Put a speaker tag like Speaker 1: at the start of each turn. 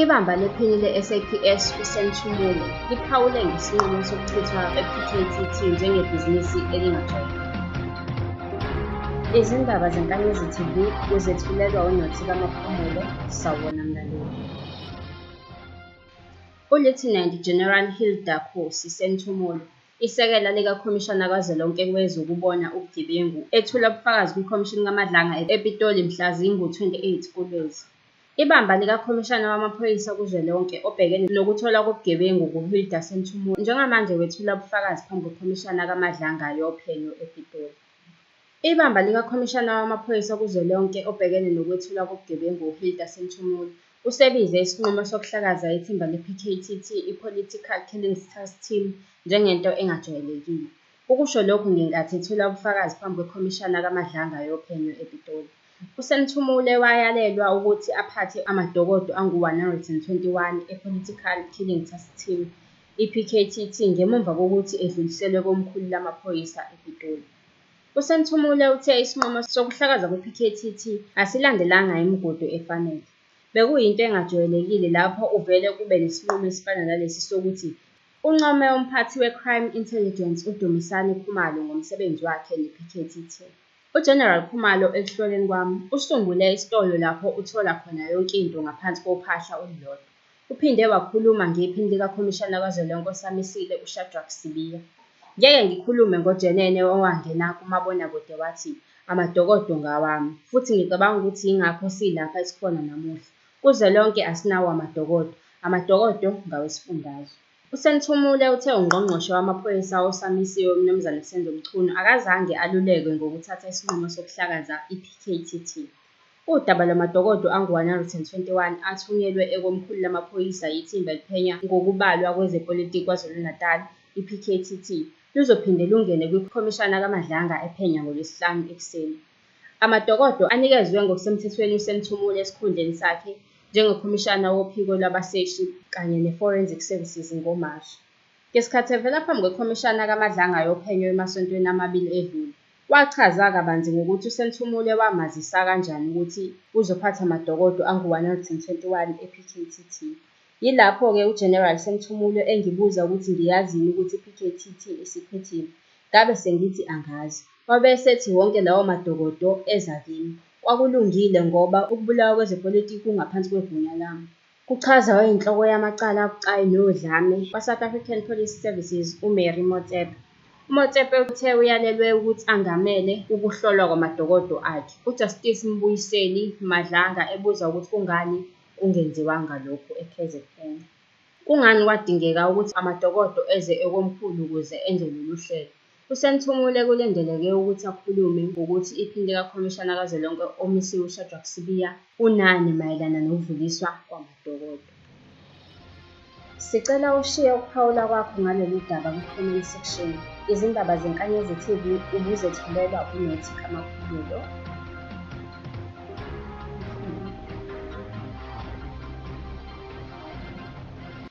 Speaker 1: Ibamba lephini le-SAPS uSenthumulo liphawule ngesinqumo sokuchithwa kwe-PKTT njengebhizinisi elingajwayelekile. Izindaba zeNkanyezi TV uzethulelwa uNothi kaMaphumulo, sawubona mlaleli. ULieutenant General Hilda Khosi Senthumulo Isekela likaKhomishana kazwelonke wezokuBona ubuGebengu, ethula ubufakazi kwiKhomishini kaMadlanga ePitoli mhla zingu-28 kuLwezi. Ibamba likaKhomishana wamaPhoyisa kuzwelonke obhekene nokutholwa kobugebengu nguHilda Senthumulo njengamanje wethula ubufakazi phambi kweKhomishana kaMadlanga yophenyo ePitoli. Ibamba likaKhomishana wamaPhoyisa kuzwelonke obhekene nokwethulwa kobugebengu uHilda Sinthumule, usebize isinqumo sokuhlakaza ithimba le-PKTT i-Political Killings Task Team njengento engajwayelekile. Ukusho lokhu ngenkathi ethula ubufakazi phambi kweKhomishana kaMadlanga yophenyo ePitoli. USinthumule wayalelwa ukuthi aphathe amadokodo angu-121 e-Political Killing Task Team, i-PKTT, ngemuva kokuthi edluliselwe komkhulu lamaphoyisa ePitoli. USenthumule uthe isinqumo sokuhlakaza kwiPKTT asilandelanga imigudu efanele. Bekuyinto engajwayelekile lapho uvele kube nesinqumo esifana nalesi sokuthi uncome umphathi weCrime Intelligence uDumisani Khumalo ngomsebenzi wakhe nePKTT. UGeneral Khumalo ekuhloleni kwami usungule isitolo lapho uthola khona yonke into ngaphansi kophahla olulodwa. Uphinde wakhuluma ngePhini likaKhomishana Kazwelonke osamisile uShadrack Sibiya. Ngeke ngikhulume ngojenene owangena kumabonakude wathi amadokodo ngawami futhi ngicabanga ukuthi yingakho silapha esikhona namuhla. Kuzwelonke asinawo amadokodo, amadokodo ngawesifundazwe. USenthumule uthe uNgqongqoshe wamaPhoyisa osamisiwe uMnumzane Senzo Mchunu akazange alulekwe ngokuthatha isinqumo sokuhlakaza iPKTT. Udaba lwamadokodo angu-121 athunyelwe ekomkhulu lamaphoyisa yithimba eliphenya ngokubalwa kwezepolitiki KwaZulu-Natal, iPKTT, luzophinde lungene kwiKhomishana kaMadlanga ephenya ngoLwesihlanu ekuseni. Amadokodo anikezwe ngokusemthethweni uSemthumulo esikhundleni sakhe njengoKhomishana wophiko lwabaseshi kanye neForensic Services ngoMashi. Ngesikhathi evela phambi kweKhomishana kaMadlanga yophenyo emasontweni amabili edlule, Wachaza kabanzi ngokuthi uSenhlumule wamazisa kanjani ukuthi uzophatha madokodo angu-121 ePKTT. Yilapho-ke uGeneral Senhlumule engibuza ukuthi ngiyazini ukuthi iPKTT isiphethile. Ngabe sengithi angazi. Wabe esethi wonke lawo madokodo eza kimi. Kwakulungile ngoba ukubulawa kwezepolitiki kungaphansi kwegunya lami. kuchaza oyinhloko yamacala abucayi nodlame kwaSouth African Police Services uMary Motsepe. UMotsepe uthe uyalelwe ukuthi angamele ukuhlolwa kwamadokodo akhe, uJustice Mbuyiseli Madlanga ebuza ukuthi kungani kungenziwanga lokhu eKZN. Kungani kwadingeka ukuthi amadokodo eze ekomkhulu ukuze enze lolu hlelo? USenthomule kulindeleke ukuthi akhulume ngokuthi iphini likaKhomishana kazwelonke omisiwe uShadrack Sibiya unani mayelana nokudluliswa kwamadokodo. Sicela ushiye ukuphawula kwakho ngalolu daba kwi-comment section. Izindaba zeNkanyezi TV ubuzethulelwa uNethi Kamaphumulo.